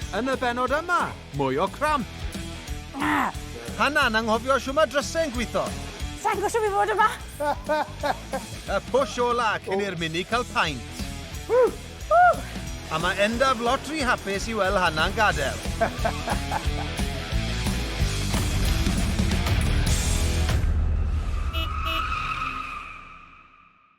Yn y bennod yma, mwy o cramp. Na! Hanna'n anghofio shw mae drysau yn gwitho. Sa'n gwybod shwt i fod yma! y push ola cyn i'r mini cael paint. A mae endaf lot rhy hapus i weld Hanna'n gadael.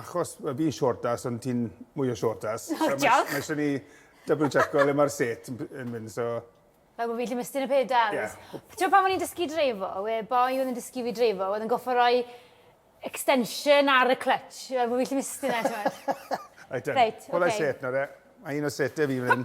Achos mae fi'n shortas ond ti'n mwy o shortas. O, diolch! So mae isie ni double checo le mae'r set yn mynd, so... Fel bod fi'n gallu mestyn y pedals. Ie. T'mod pan o'n i'n dysgu dreifo, we' boi oedd yn dysgu fi dreifo oedd yn gorffo roi extension ar y clutch fel bo' fi gallu mestyn e t'mod? Reit, ok. Reit, ok. Pull that set nawr de. Mae un o sete fi fan 'yn.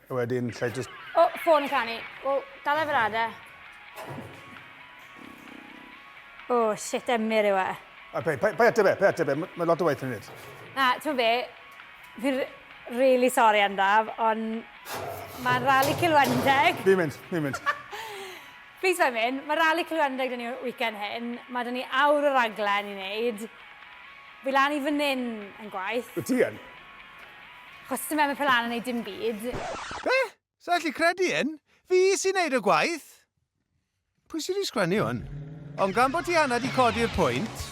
A wedyn, lle just... O, oh, ffôn yn canu. Wel, dal efo'r ada. O, oh, shit, emyr yw e. A pe, pe, pe ateb e, pe ateb e, mae lot o waith yn nid. Na, ti'n be, fi'n really sorry am daf, ond mae'n rali cilwendeg. Fi'n mynd, fi'n mynd. Please fe'n mynd, mae rali cilwendeg dyn ni weekend hyn, mae dyn ni awr o raglen i wneud. Fi lan i fan hyn yn gwaith. Wyt ti yn? Achos sdim efo Pela'n yn neud dim byd. Be? Sa allu credu hyn? Fi sy'n neud y gwaith! Pwy sy 'di sgwennu hwn? Ond gan bod Tiana 'di codi'r pwynt,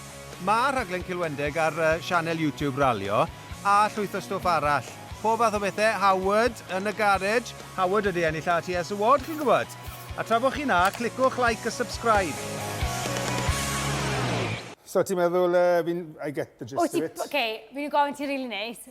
ma' rhaglen Cilwendeg ar yy sianel YouTube Ralio, a llwyth o stwff arall. Pob fath o bethe, Howard yn y garej, Howard wedi ennill RTS Award chi'n gwbod! A tra bo chi 'na, clicwch like a subscribe! So ti'n meddwl yy fi'n... I get the gist of it. Wyt ti... Ok, fi myn' i gofyn ti rili neis.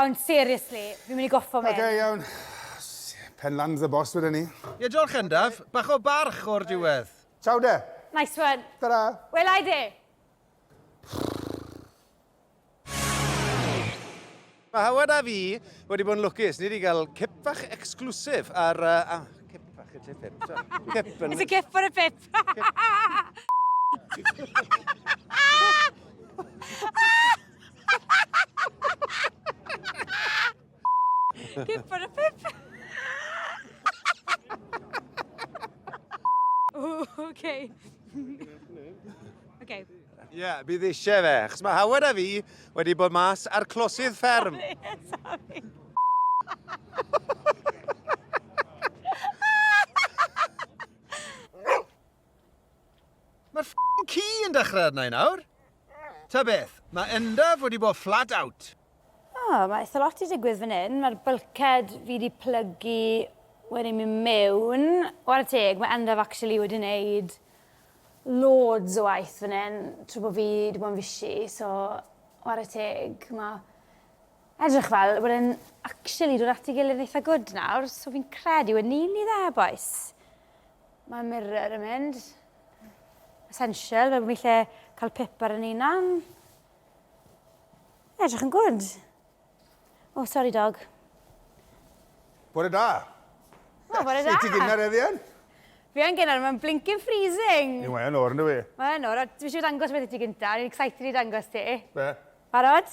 Ond seriously, fi'n mynd i goffo mynd. Oce, iawn. Pen lands y boss wedyn ni. Ie, diolch Endaf. Bach o barch o'r diwedd. Ciao de. Nice one. Ta-ra. Welai de. Mae Howard a fi wedi bod yn lwcus. Ni wedi cael cip fach exclusif ar... Uh, cip fach y tip hip. Cip yn... It's a cip for a pip. Pip ar y pip. okay. okay. Ie, yeah, bydd eisiau fe, achos mae Howard a fi wedi bod mas ar closydd fferm. Sorry, sorry. Mae'r ffycin ci yn dechrau arna i nawr. Ta beth, mae Endaf wedi bod flat out. O, mae eitha lot wedi digwydd fan hyn. Mae'r bulkhead fi wedi plygu wedi mynd mewn. Ware teg, mae Endaf actually wedi wneud loads o waith fan hyn trwy bod fi wedi bod yn fishi, so ware teg. Mae edrych fel bod e'n actually dod at ei gilydd yn eitha gwd nawr, so fi'n credu we'n nearly there, bois. Mae mirror yn mynd. Essential, fe bod ni lle cael pip ar yn unan. Edrych yn gwrdd. O, oh, sorry dog. Bore da. O, bore da. Ti gynnar eddian? Fi yn gynnar, mae'n blinking freezing. Ni mae'n o'r nhw i. Mae'n o'r, dwi eisiau dangos beth i ti gynta, ni'n excited i dangos ti. Be? Barod?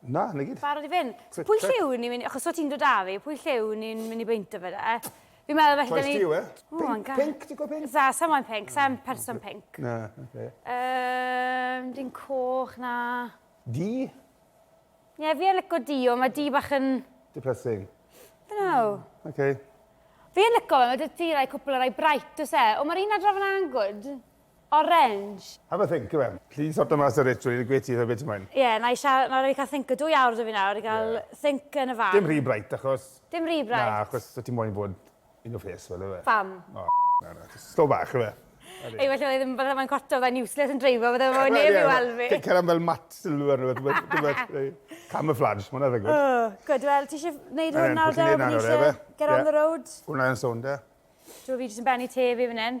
Na, na gyd. Barod i fynd. So pwy lle yw ni mynd, achos o ti'n dod â fi, pwy lle yw ni'n mynd i beinto fe da? Fi'n meddwl felly... Choice ti yw e. Pink, pink, ti'n gwybod pink? Za, sa moyn pink, sa'n person pink. Na, oce. Um, dyn coch, na. Di? Ie, fi yn lyco di, ond mae di bach yn... Depressing. Don't know. Oce. Okay. Fi yn lyco fe, mae dy ti rai cwpl o rai bright, os e? O, mae'r un adrof yna yn good. Orange. Have a think Iwan. Alli di sorto mas y rich trwy gweud ti rhoi be ti moyn. Ie, na i sha- na raid fi cael think o dwy awr da fi nawr i gael think yn y fan. Dim rhy bright achos... Dim rhy bright? Na, achos ti moyn bod in your face fel yfe? Pam? O na na, jyst slow bach yfe? Ei well oedd ddim bydde fe'n cwarto fydde fe'n useless yn dreifo fydde fo neb i weld fi. Ti'n cael am fel mat sylw arno fe tibod tibod neu camouflage ma' hwnna ddigwydd. O, gwd wel tishe neud hwn nawr de? Get on the road? Hwnna yn sownd e? Dw fi jyst yn bennu te fi fan 'yn.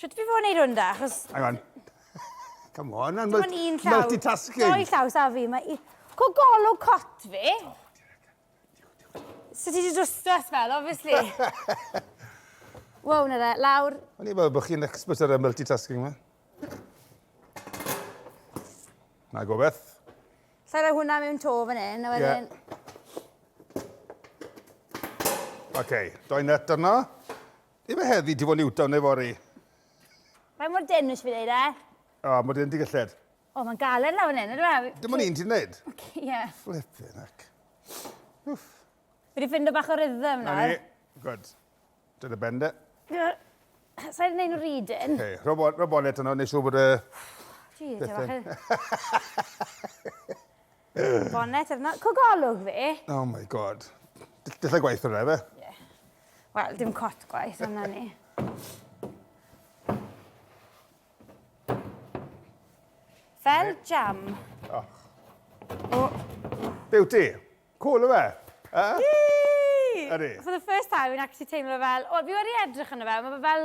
Shwt fi fod yn neud hwn da, achos... Hang on. Come on, mae'n mul un llaw. multitasking. Doi llaw, sa fi, mae... i- Co golwg cot fi. So ti di dwstwas fel, obviously. Wow, na fe, lawr. O'n i fel bod chi'n expert ar y multitasking yma. Na gobeth. Lle roi hwnna mewn to fan hyn, a wedyn... Yeah. OK, doi nut arno. Di fe heddi, di fo Newtown neu fori? Faint mor dyn nes fi ddeud e? O, mor dyn di gylled. O, mae'n galed lawr yn enw, e? Dim ond un ti'n neud? Ie. Flippin' ac. Uff. Fi wedi ffindo bach o rhythm nawr. Na ni. Good. Dyn y bende. Sa'n neud nhw rydyn? Oce, rho bonet yno, neu siw bod y... Gee, dim achyd. Bonnet ar na- cogolwg fi! Oh my God. D- Dillai gwaith hwnna efe? Ie. Wel, dim cot gwaith, ond na ni. Fel jam. Oh. Beauty. Cool yw e? Eh? Ydi. For the first time, fi'n actually teimlo fel... Wel, fi wedi edrych yno fe, mae fe fel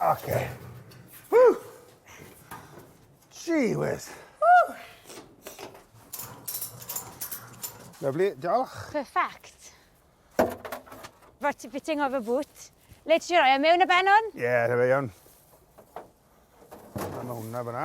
Oce. Ww! Gee whiz. Ww! Lyfli, diolch. Perfect. Right, ti fitting of a boot. Le ti roi e mewn y benwn? Ie, yeah, rhaid iawn. Mae hwnna fyna.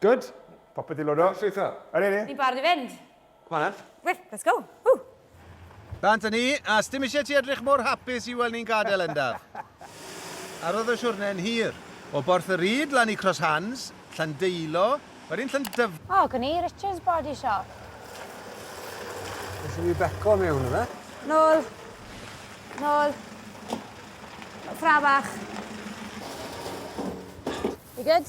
Good. Popeth i lodo. Llwytho. Yr un i. Ni'n barod i fynd. Come on then. Well, let's go. Ww! Bant a ni, a sdim isie ti edrych mor hapus i weld ni'n gadael Endaf. Ar oedd y siwrne yn hir. O Borth y Ryd lan i Cross Hands, Llandeilo, wedyn Llandyf-. O, gwn i, Richard's Body Shop. Isie fi beco mewn yfe? Nôl. Nôl. Ffra bach. You good?